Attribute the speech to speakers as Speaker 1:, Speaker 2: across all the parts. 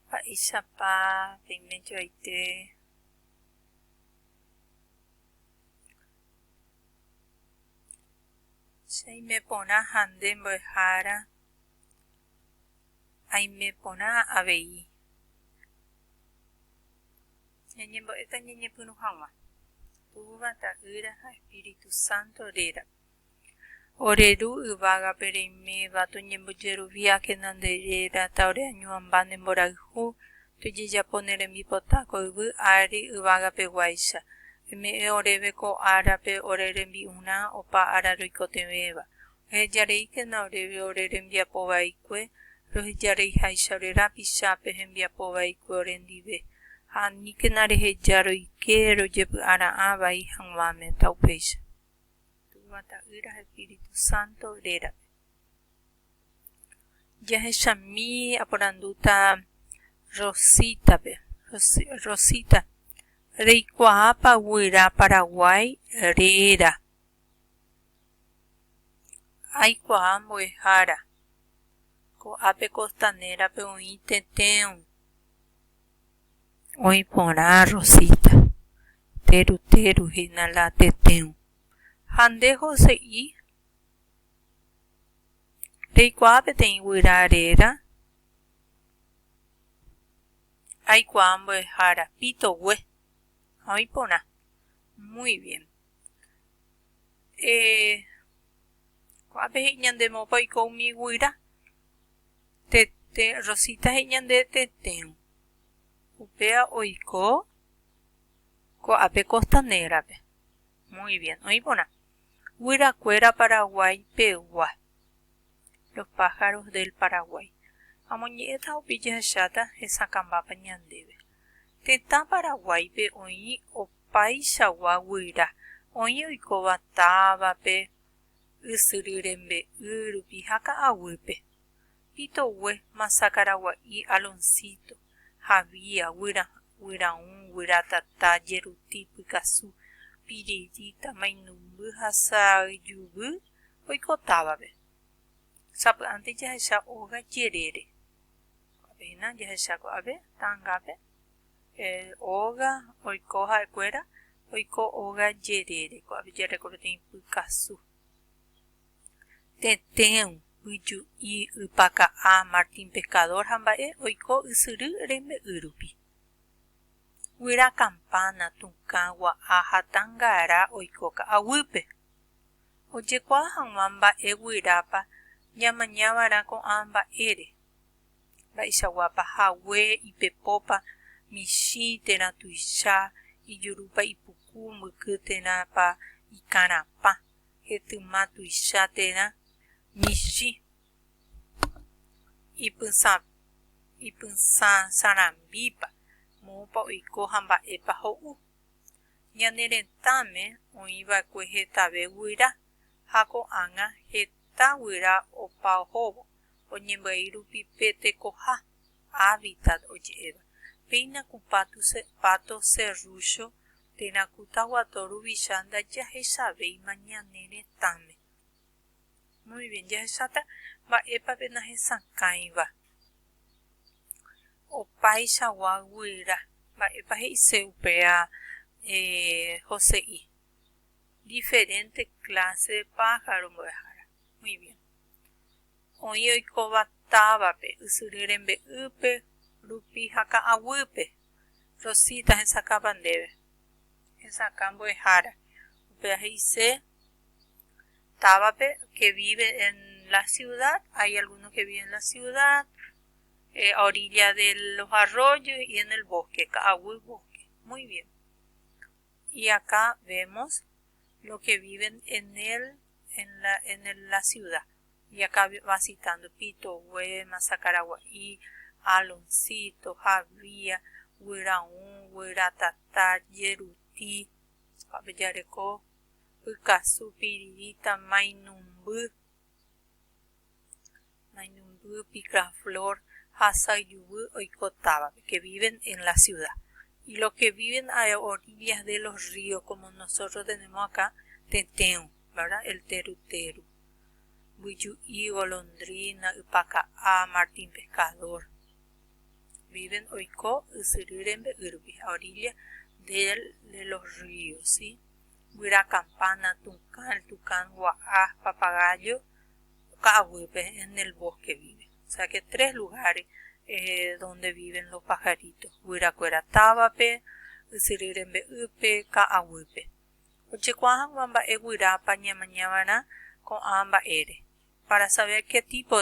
Speaker 1: Mba'éichapa peiméjoaite chaimeporã ha nde mbo'ehára aimeporã avei. Ñañembo'éta ñañepyrũ hag̃ua Túva, Ta'ýra ha Espíritu Santo rérape. Ore ru yvágape reiméva, toñembojeruviákena nde réra, taoreañuãmba ne mborayhu, tojejapo ne rembipota ko yvy ári yvágapeguáicha. Oime'ẽ oréve ko árape ore rembi'urã opa ára roikotevẽva. Ohejareíkena oréve ore rembiapo vaikue, rohejareiháicha ore rapichápe hembiapo vaikue ore ndive, ha aníkena reheja roike rojepy'ara'ã vai hag̃uáme, ta upéicha. Túva Ta'ýra ha Espíritu Santo rérape. Jahechami aporandúta Rosítape. Rosita, reikuaápa guyra Paraguái réra? Aikuaa mbo'ehára. Ko'ápe Costanera-pe oĩ tetẽu. Oĩ porã Rosita, teru teru hína la tetẽo. Ha nde hose'i? Reikuaa peteĩ guyra réra? Aikuaa mbo'ehára, pitogue. Ha oĩ porã. Muy bien. Eh, ko'ápe he'i ñande moõpa oiko umi guyra. Tete, Rosita he'i ñande tetérõ. Upéva oiko ko'ápe Costanera-pe. Muy bien, oĩ porã. Guyrakuéra Paraguái pegua. Los pájaros del Paraguay. Amoñe'ẽta opi jahecháta hesakãmbápa ñandéve. Tetã Paraguáipe oĩ opaichagua guyra. Oĩ oikóva távape, ysyry rembe'ýrupi ha ka'aguýpe. Pitogue, Masa Karagua'i, Alonsíto, Javía, Guyra, Guyraũ, Guyra Tata, Jeruti, Pykasu, Piririta, Mainumby ha Sa'yjuvy oiko távape. Sapy'ánte jahecha óga jerére. Ko'ápe hína jahecha ko'ápe ta'angápe. Óga oiko ha'ekuéra oiko óga jerére. Ko'ápe jarekópeteĩ Pykasu. Tetẽu, yju'i, ypaka'ã, Martín Pescador ha mba'e oiko ysyry rembe'y rupi. Guyra kampána, tũkã, gua'a ha tangara oiko ka'aguýpe. Ojekuaa hag̃ua mba'e guyrápa ñamaña va'erã ko'ã mba'ére, mba'eichagua pahague, ipepópa, michĩ, térã tuicha, ijurúpa ipuku, mbyky, térãpa ikarãpã. hetyma tuicha térã michĩ ipysãsarambípa, moõpa oiko ha mba'épa ho'u. Ñane retãme oĩ va'ekue hetave guyra, ha ko'ág̃a heta guyra opa ohóvo oñembyai rupi pe tekoha. Hábitat oje'éva, péina ku Pato Serrucho térã ku Taguato ruvicha ndajahechavéima ñane retãme. Muy bien, jahecháta mba'épa pe nahesakãiva. Opaichagua guyra, mba'épa he'ise upéva Jose'i. Diferente clase de pájaro mbo'ehára. Muy bien. Oĩ oikóva távape, ysyry rembe'ýpe, rupi ha ka'aguýpe. Rosita, Hesakãpa ndéve. Hesakã mbo'ehára. Upéva he'ise távape que vive en la ciudad, hay alguno que vive en la ciudad, eh, a orilla de los arroyos y en el bosque, ka'aguy bosque. Muy bien. Y acá vemos lo que viven en el, en la, en el, la ciudad. Ñakãvasitando Pito, Guéma, Sakaragua'i, Aloncito, Javia, Guyraũ, Guyratata, Jeruti, ha pejareko Pykasu, Piririta, Mainumby, Mainumby, Picaflor ha Sayuvy oiko távape, que viven en la ciudad. Y los que viven a orillas de los ríos, como nosotros tenemos acá, tetẽgui. Verdad el teru teru, mbyju'i, golondrina, ypaka'á, martín pescador, viven oiko ysyry rembe'ýrugui a orilla del de los ríos, si, guyra campana, tucán, el tucán gua'a, papagayo, ka'aguýpe, en el bosque vive, o sea que tres lugares eh, donde viven los pajaritos, guyrakuéra távape, ysyry rembe'ýpe, ka'aguýpe. Ojekuaa hag̃ua mba'e guyrápa ñamaña va'erã ko'ã mba'ére. Para saber qué tipo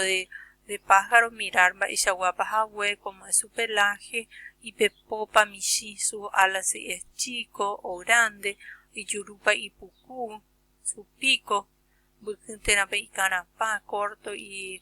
Speaker 1: de pájaro mirar mba'eichaguápa hague, cómo es su pelaje, ipepopa, michĩ, sus alas si es chico o grande, ijurúpa ipuku, su pico, mbyky térãpa ikarãpa, corto y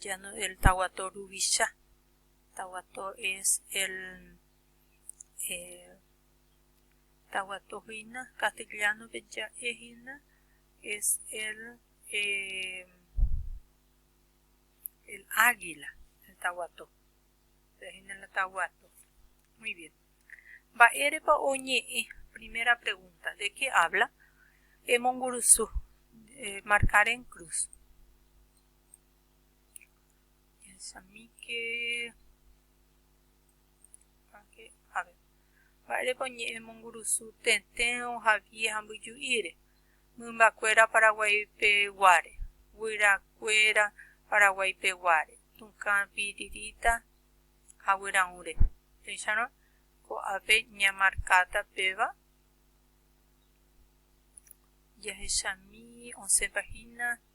Speaker 1: ya no el tahuato ruvicha tahuato es el eh, tahuato hina castellano pe ya hina es el eh, el águila el tahuato hina la tahuato muy bien va erepa oñe eh, primera pregunta de qué habla emongurusu eh, marcar en cruz Piensamíke, mba'érepa oñe'ẽmongurusu tetẽ ohavie ha mbyju'íre, mymbakuéra Paraguaipe guáre, guyrakuéra Paraguaipe guáre, tũkã pirirĩta ha guyraũre. Péicharõ, ko'ápe ñamarkáta péva, jahechami osẽpa hína.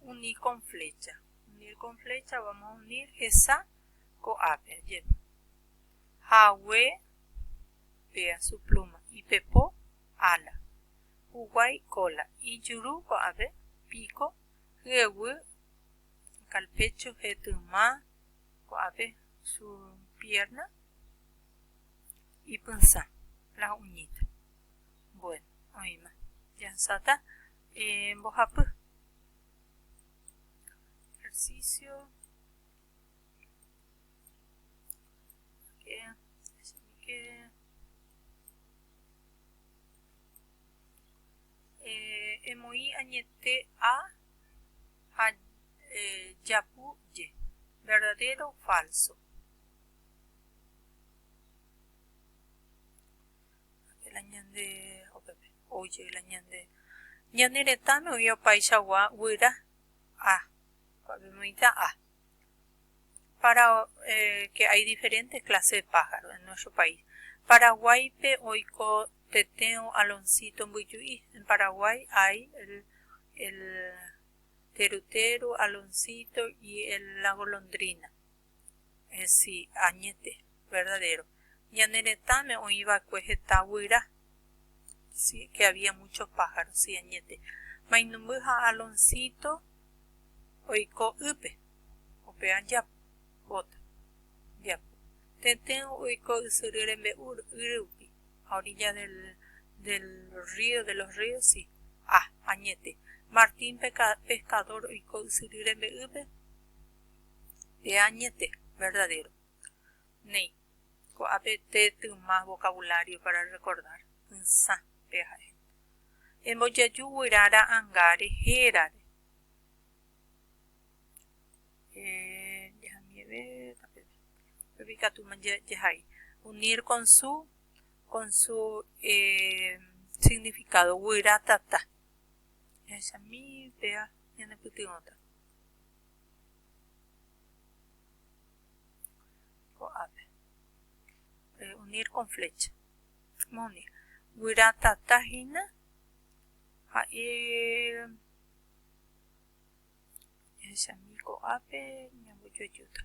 Speaker 1: unir con flecha. Unir con flecha vamos a unir hesa ko'ápe ajépa. Hague vea su pluma ipepo ala. Huguai cola ijuru ko'ápe pico hyeguy calpecho hetyma ko'ápe su pierna ipysa las uñitas. Bueno, oima. Ya sata Mbohapy. Ejercicio. Emoĩ añete a ha japu je. Verdadero, falso. Ñane retãme oĩ opaichagua guyra A. Kuavemoĩta A. Para que hay diferentes clases de pájaro en nuestro país. Paraguáipe oiko tetérõ aloncito mbyju'i. En Paraguay hay el terutero, aloncito y la golondrina. si añete verdadero ñane retãme oĩva'ekue heta guyra si que había muchos pájaros si añete mainumby ha Aloncito oiko ýpe upéva japóta japu tetẽ oiko ysyry rembe'u yry rupi a orilla del río de los ríos si ha añete Martín pescador oiko ysyry rembe'ýpe Eañete, verdadero. Néi, ko'ápe tetyma vocabulario para recordar, py'sã, pe ha'e. Embojaju guyra ra'anga rehérare. Eh, dejamieve, tape. Upépe ikatu jahai. Unir con su, con su eh, significado, guyra tata. Jahechami, péva, ñanepytyvõta. Ko'ápe. Reunir con flecha. Moni. Guyra tata hína ha'i jahechami ko'ápe ñambojoajúta.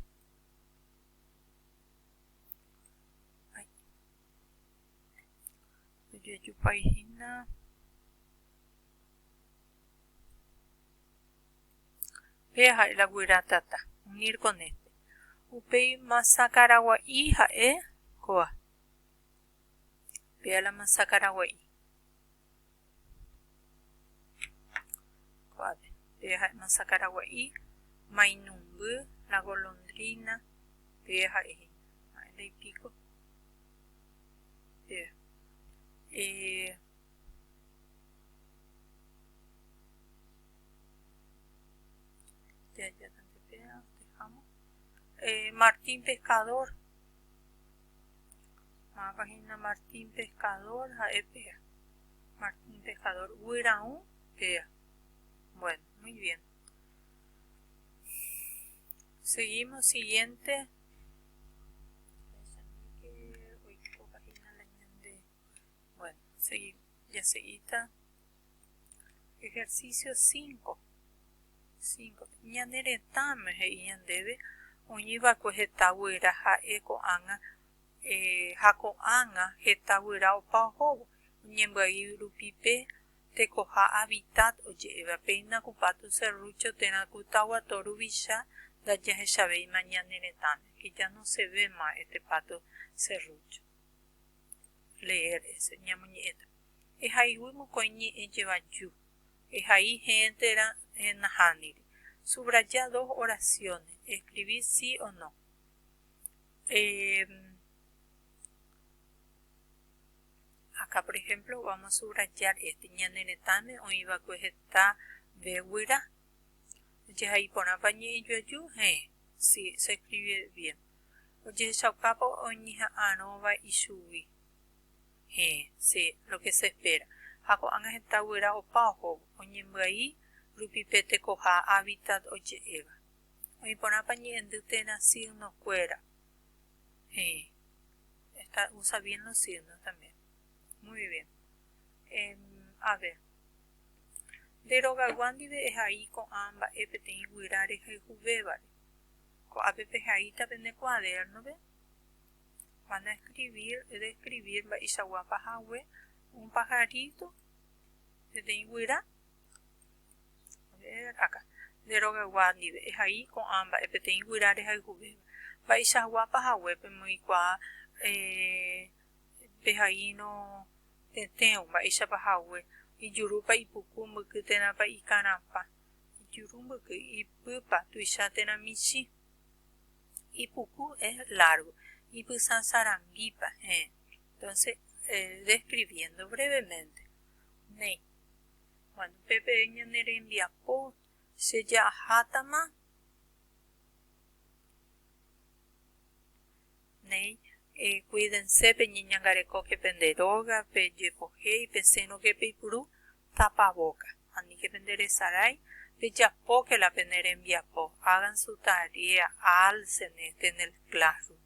Speaker 1: Ojoajúpai hína. Péa ha'e la guyra tata, unir con este. Upéi masakaragua'i ha'e kóva. Péa la masakaragua'i. Kóvape. Péa ha'e masakaragua'i, mainumby, la golondrina, péa ha'e hína. Ha'e la ipiko. Péa. Eh, Martín pescador mávapa hína Martín pescador ha'e péa Martín pescador guyraũ péa bueno muy bien seguimos siguiente bueno seguimos ya seguita Ejercicio 5. 5. Ñane retãme he'i ñandéve oñiva'ekue heta guyra ha'e ko'ág̃a eh, ha ko'ág̃a heta guyra opa ohóvo. Ñembyai rupi pe tekoha hábitat oje'éva, péina ku Pato Serrucho térã ku Taguato ruvicha ndajahechavéima ñane retãme, que ya no se ve más este Pato Serrucho. Leer ese ñamoñe'ẽta. Ehaiguy mokõi ñe'ẽ jevaju. Ehai hẽe térã nahániri. Subraya dos oraciones. Escribí sí o no. Em, Acá, por ejemplo, vamos a subrayar este. Ñane retãme oĩ va'ekue heta ve guyra. Jehai porãpa ñe'ẽ juaju? Hẽe. Sí, se escribe bien. ojehechaukápa oñeha'arõva ichugui. Héẽ, se, lo que se espera, ha ko'ág̃a heta guyra opa ohóvo, oñembyai rupi pe tekoha hábitat oje'éva. Oĩ porãpa ñe'ẽndy térã signo kuéra? Héẽ, esta, usa bien los signos también. Muy bien. Em, a ver. Nde rogayguándi ve'ehai ko'ã mba'e peteĩ guyra rehayhuvévare. Ko'ápe pehaíta pene kuadérnope van a escribir, describir mba'eichaguápa hague un pajarito, peteĩ guyra, a ver acá, nde rogaygua ndive ehai ko'ã mba'e peteĩ guyra rehayhuvéva, mba'eichaguápa hague pemoikuaa pehaíno tetẽo, mba'éichapa hague, ijurúpa, ipuku, mbyky térãpa, ikarãpa. Ijuru mbyky ipypa tuicha térã michĩ. Ipuku es largo. Ipysa saranguípa heẽ. Entonces, eh, describiendo brevemente. Néi. Bueno, pe pe ñane rembiapo che ja'ahátama. Néi. Eh, cuídense peñeñangarekóke pende róga, pejepohéi, pesẽrõke peipuru, Tapavóka. Aníke pende resarái, pejapóke la pene rembiapo, hagan su tarea, alcen este en el classroom.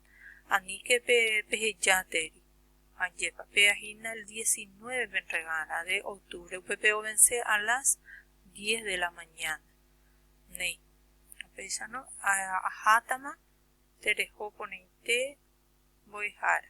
Speaker 1: Aníke pe pehejáteri. Ajépa péva hína el diecinueve pe entregána de octubre, upe peovence a las diez de la mañana. Néi. Upéicharõ ahátama tereho porãite mbo'ehára.